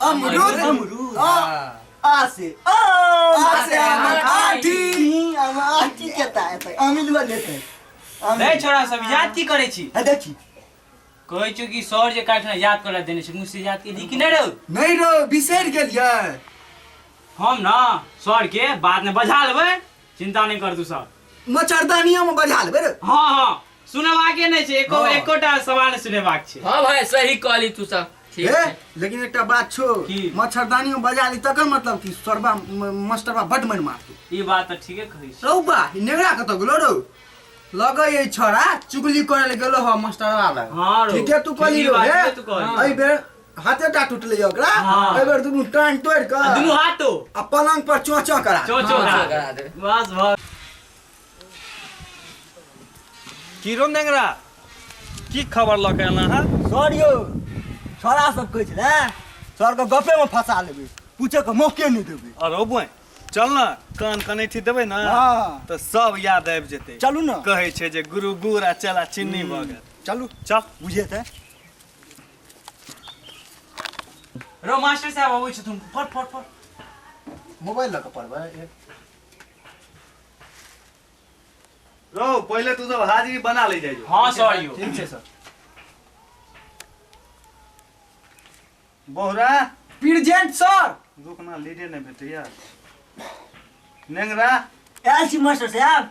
अमरूद अमरूद हाँ। आ से आ आ से आमर आठी। हम आठी केता है अमिलवा लेते हैं। रे अमिल। छोरा सब याद की करे छी है देखी कहै छौ कि सर जे काटना याद करा देने छै मुझसे याद के दी कि नहि रौ नहीं रो बिसर गेलिए हम ना सर के बाद में बजा लेबै चिंता नहीं कर तू सब मच्छरदानियों में बजा लेबे रे हाँ हाँ सुनेबाके नहीं छै एको हाँ। एकोटा सवाल नहि सुनेबाक छै हाँ भाई सही कहली तू सब ठीक ए, छै। लेकिन एकटा बात छो की? मच्छरदानी में बजा ली तकर मतलब कि सरबा म- मास्टरबा बड मन मारतू ई बात तऽ ठीके कहै छी रौबा ई नेगरा कत गेलो रौ लगे ये छोरा चुगली करे ले गेलो ह मास्टरवा लग हाँ रौ, ठीके तू कहली ठीके रौ बात हे छै, तू कहली। एहि बेर हाथे टा टूटले ओकरा हाँ। एहि बेर दुनू टांग तोड़ के आ दुनू हाथो आ पलंग पर चोचो करा चो चो हाँ, करा करा दे। दे। बस भऽ की रो नेंगरा की खबर लऽ के एला है सर यौ छोरा सब कहै छलै सर के गपे में फंसा लेबै पूछे के मौके नहि देबै अरे बोए चल ना कान कनेठी देबै ना हाँ। तऽ सब याद आबि जेतै चलू ने कहै छै जे गुरु गुर आ चला चिन्नी भऽ गेल चलू चल बुझे ते रो मास्टर साहब अबै छथुन पढ़ पढ़ पढ़ मोबाइल लऽ कऽ पढ़बै एक रो पहिले तू सब हाजिरी बना ले जाइयो हाँ सर यो ठीक छै सर बोहरा प्रेजेंट सर रुकना लीडे नहि भेटैया नेंगरा आयल छी मास्टर साहब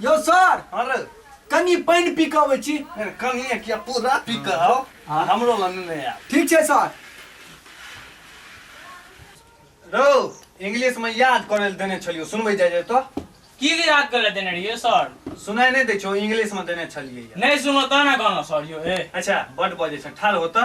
यो सर अरे कनी पानि पी कऽ अबै छी कनिए किया पूरा पी कऽ आउ आ हमरो लग नहि आयब ठीक छै सर रौ इंग्लिश में याद करे लए देने छलियो सुनबै जाय जाय तो की याद कर देने रहिए सर सुनाई नहीं दे छो इंग्लिश में देने छलिए नहीं सुनो तो ना गाना सर यो ए अच्छा बड बजे छ ठाल होता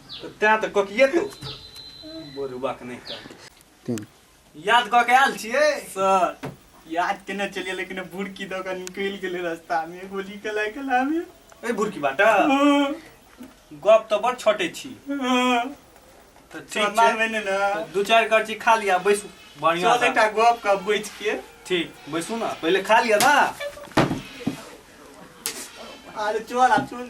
तैं तऽ ककिए तो बोरुआ के नहीं कहते याद कऽ के आयल छियै सर याद केने चलिए लेकिन बुड़की दऽ कऽ निकलि गेलै रस्तामे गोली कला कलामे ए बुड़की बाटा गप तऽ बड़ छोटे छी तऽ ठीक छै भेने ने दू चारि करची खा लिया बैसू बढ़िया चल एकटा गप का बैठ के ठीक बैसू ना पहिले खा लिया ना अरे चल आ चल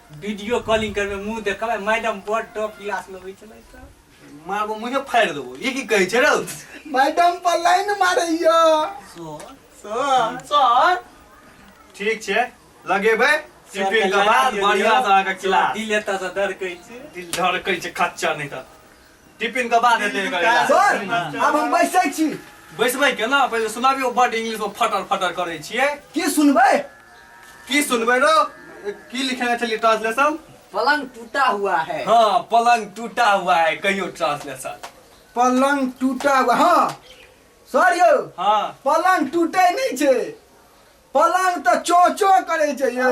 वीडियो कॉलिंग करबे मुंह देखबे मैडम बड़ टॉप क्लास में होई छले त मारबो मुझे फाड़ देबो ये की कहे छे रे मैडम पर लाइन मारैया सर सर ठीक छे लगेबे टिफिन के बाद बढ़िया से आके खिला दिल एता से डर कहि छे दिल धड़कै छे खच्चा नहीं त टिफिन के बाद हेतै एकर इलाज। सर आब हम बैसै छी बैसबै केना पहिले सुनाबियो बड इंग्लिश में फटर फटर करै छियै की सुनबै की सुनबै रो की लिखेने छलियै ट्रांसलेशन पलंग टूटा हुआ है हँ पलंग टूटा हुआ है कहियो ट्रांसलेशन पलंग टूटा हुआ हँ सर यौ हँ पलंग टूटै नहि छै पलंग तऽ चोचो करै छै यौ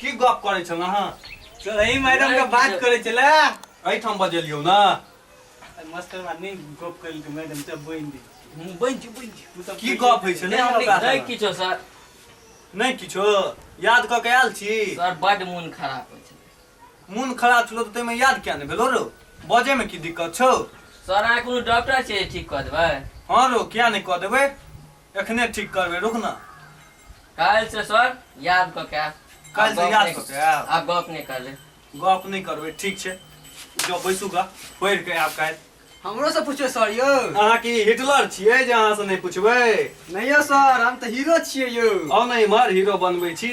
की गप करै छल अहाँ चलही मैडम के बात करे चले एहिठाम बजेलियौ ने मास्टर बा नहीं गप कर के मैडम से बोइन दे बन छी बन छी तू सब की गप होइ छै नहि हमरा हमरा नहि साथ। किछो सर नहि किछो याद कऽ के आयल छी सर बड मोन खराब होइ छै मोन खराब छलो तऽ ताहिमे याद किया नहि भेलो रो बजेमे की दिक्कत छौ सर अहाँ कोनो डॉक्टर छै जे ठीक कऽ देबै हँ रो किया नहि कऽ देबै एखने ठीक करबै रुक न काल्हि से सर याद कऽ के आयब काल्हि से याद कऽ के आयब आब गप नहि करबै गप नहि करबै ठीक छै जो बैसू गा पढ़ि कऽ आयब काल्हि हमरो से पूछियो सर यौ अहाँ की हिटलर छियै जे अहाँ से नहि पूछबै नहियो सर हम तऽ हीरो छियै यौ आउ ने इम्हर हीरो बनबै छी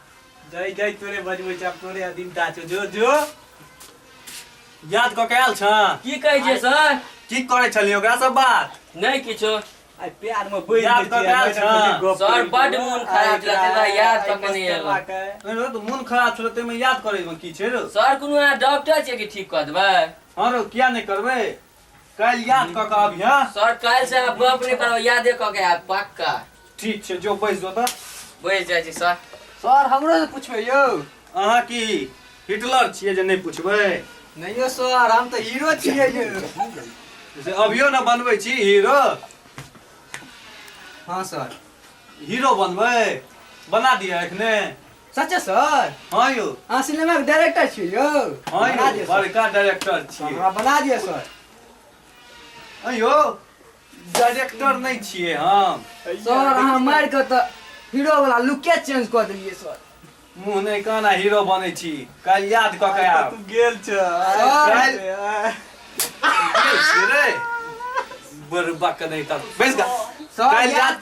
जय जय तोरे बजबै छै आब तोरे अधीनता छौ जो जो याद कऽ के आयल छ की कहै छै सर की करै छलियै ओकरा सब बात नहि किछो आइ प्यार में बैठ याद कऽ के आयल छ सर बड मोन खराब छलै तै दुआरे याद कऽ के नहि एलहुँ नहि रौ तऽ मोन खराब छलो ताहिमे याद करै मे की छै रौ सर कोनो अहाँ डॉक्टर छियै कि ठीक कऽ देबै हँ रौ किया नहि करबै कल याद क के अब यहाँ सर काल्हि से आब गप नहि करब यादे कऽ के आयब पक्का ठीक छै जो बैस जो तऽ बैस जाइ छी सर सर हमरो से पूछबै यौ अहाँ की हिटलर छियै जे नहि पूछबै नहि यौ सर हम तऽ हीरो छियै यौ से अभियो ने बनबै छी हीरो हँ सर हीरो बनबै बना दिअ एखने सच्चे सर हाँ यौ अहाँ सिनेमा के डायरेक्टर छी यौ हाँ बना यौ दिअ सर। बड़का डायरेक्टर छियै हमरा बना दिअ सर हाँ यौ डायरेक्टर नहीं छियै हम सर अहाँ मारि कऽ तऽ हीरो वाला लुके चेंज कऽ देलियै सर मुँह नहीं काना हीरो बनै छी काल्हि याद कऽ के आब गेल छ सर रे बड़बा के नहीं तब बैस गा सर काल्हि याद याद